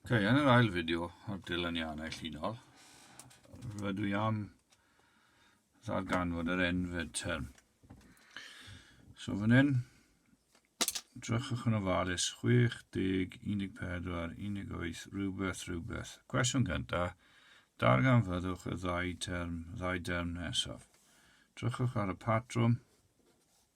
Ok, yn yr ail fideo o'r dilyniannau llinol, rydw i am ddarganfod yr enfed term. So fan hyn, drychwch yn ofalus 60, 14, 18, rhywbeth, rhywbeth. Cwestiwn gyntaf, darganfyddwch y ddau term, ddau derm nesaf. Drychwch ar y patrwm,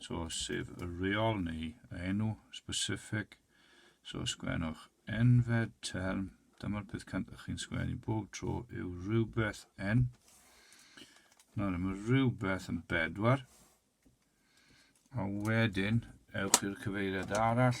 So, sef y reol neu y enw specific. So, sgwennwch enfed term. Dyma'r peth cyntaf ych chi'n sgwennu bob tro yw rhywbeth en. Nawr, mae rhywbeth yn bedwar. A wedyn, ewch i'r cyfeiriad arall.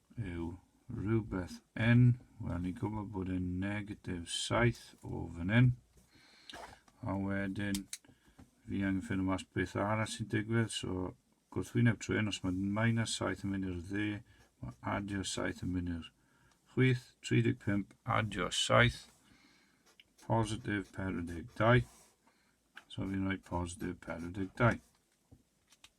yw rhywbeth yn, wel ni'n gwybod bod yn negatif 7 o fan hyn, a wedyn fi angen ffynu mas beth arall sy'n digwydd, so gwrthwyneb trwy hyn, os mae minus 7 yn mynd i'r dde, mae adio 7 yn mynd i'r chwith, 35 adio 7, positif 42, so fi'n rhoi positif 42.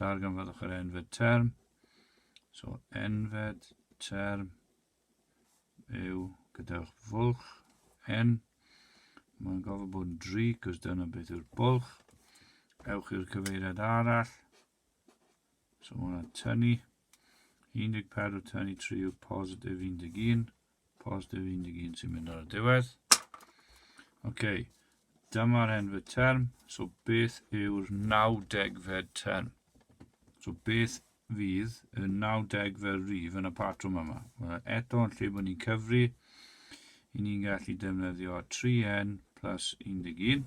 Darganfyddwch yr enfed term. So, enfed term yw gyda'ch fwlch n. Mae'n gofod bod yn dri, cos dyna beth yw'r bwlch. Ewch i'r cyfeiriad arall. So, mae'n tynnu. 14 tynnu 3 yw positif 11. Positif 11 sy'n mynd ar y diwedd. Oce, okay. dyma'r henfyd term. So beth yw'r 90 fed term? So beth fydd y 90 fel rif yn y patrwm yma? Wel, eto yn lle bod ni'n cyfri, i ni'n gallu defnyddio 3n plus 11.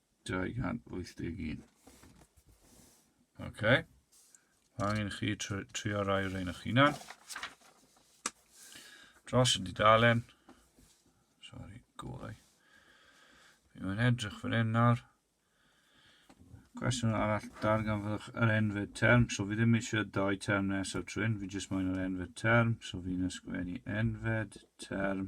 281. Oce. Okay. Angen i chi trio rai o'r ein o'ch hunan. Dros y dudalen. Sorry, gorau. Fi mae'n edrych fan hyn nawr. Cwestiwn arall, darganfyddwch yr enfyd term. So fi ddim eisiau dau term nesaf trwy'n, fi jyst moyn yr enfyd term. So fi'n ysgrifennu enfyd term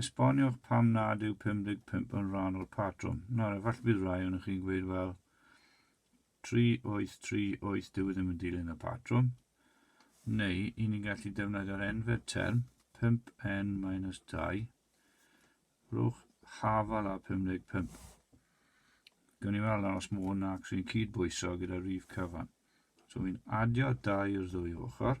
Esboniwch pam nad yw 55 yn rhan o'r patrwm. Nawr, efallai bydd rai o'n chi'n gweud, wel, 3838 dyw e ddim yn dilyn y patrwm, neu i ni'n gallu defnyddio'r enfer term 5n-2, rhwch hafal a 55. Gwni ni weld os mae hwn ac sy'n cyd-bwyso gyda rif cyfan. So fi'n adio 2 i'r ddwy ochr.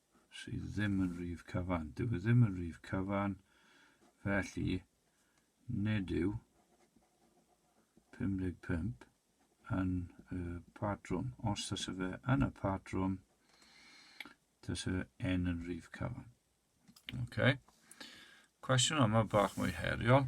sydd ddim yn rif cyfan. Dyw e ddim yn rif cyfan, felly nid yw 55 yn y patrwm. Os tasa fe yn y patrwm, tasa n yn rif cyfan. Okay. Cwestiwn yma bach mwy heriol.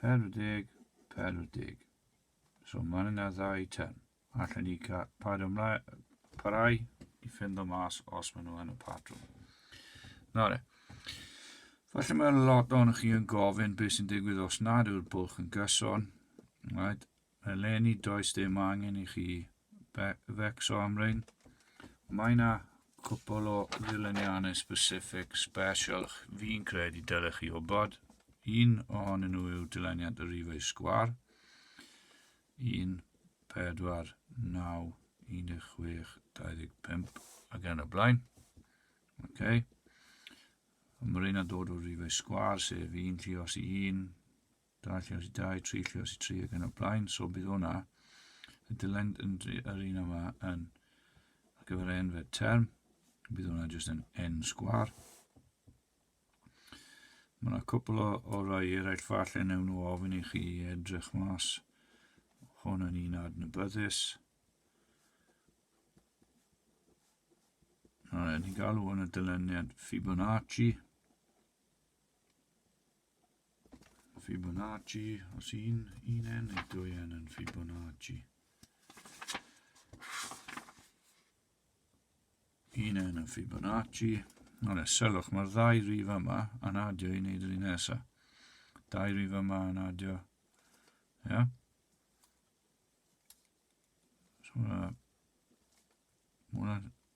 Perthig, perthig. So mae yna ddau tern. Allen ni cael paid ymlaen, parai i ffynd o mas os maen nhw yn y patrwm. Na re. Felly mae lot o'n chi yn gofyn beth sy'n digwydd os nad yw'r bwlch yn gyson. Right? Eleni does dim angen i chi fecso am rein. Mae na cwpl o ddileniannau specific special fi'n credu dylech chi o bod. Un ohonyn nhw yw dileniant y rifau sgwar. 1, 4, 9, 16, 25 ac yn y blaen. Okay. Mae rhain yn dod o rifau sgwar, sef 1 lluos i 1, Dau lle os i dau, tri lle os i tri ac yn y blaen. So bydd hwnna y dylen yn yr un yma yn ar gyfer n fe term. Bydd hwnna jyst yn n sgwar. Mae yna cwpl o, o rai eraill falle newn nhw ofyn i chi edrych mas. Hwn yn un adnabyddus. Nawr, ni'n galw hwn y dyluniad Fibonacci. Fibonacci, os un, un n neu dwy n yn Fibonacci. Un n yn Fibonacci. Ond selwch, mae'r ddau rif yma yn adio i wneud yr un nesaf. Dau rif yma yn adio. Ia? Yeah? So, uh, Mae hwnna'n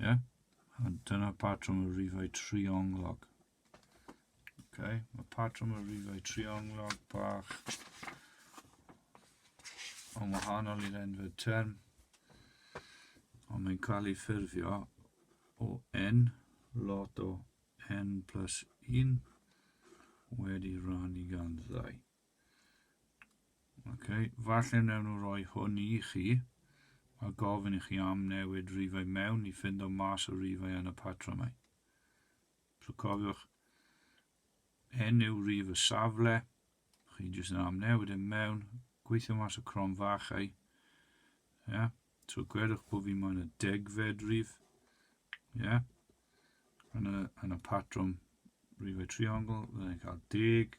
Ie? Yeah? A dyna patrwm y rifau trionglog. Okay. Mae patrwm y rifau trionglog bach yn wahanol i'r enfyd term, ond mae'n cael ei ffurfio o n lot o n plus 1 wedi rhan i gan ddau. Okay, falle wnawn nhw roi hwn i chi a gofyn i chi am newid rifau mewn i ffindo mas o rifau yn y patrymau. So cofiwch, enw rif y safle, chi jyst yn am newid yn e mewn, gweithio mas o crom fachau. Yeah. So gwedwch bod fi moyn y degfed rif. Yeah. Yn y, yn y patrwm rifau triongl, fyddai'n cael deg,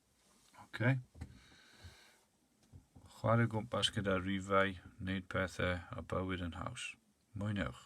Okay. Chwarae gwmpas gyda rifau, wneud pethau a bywyd yn haws. Mwynhewch!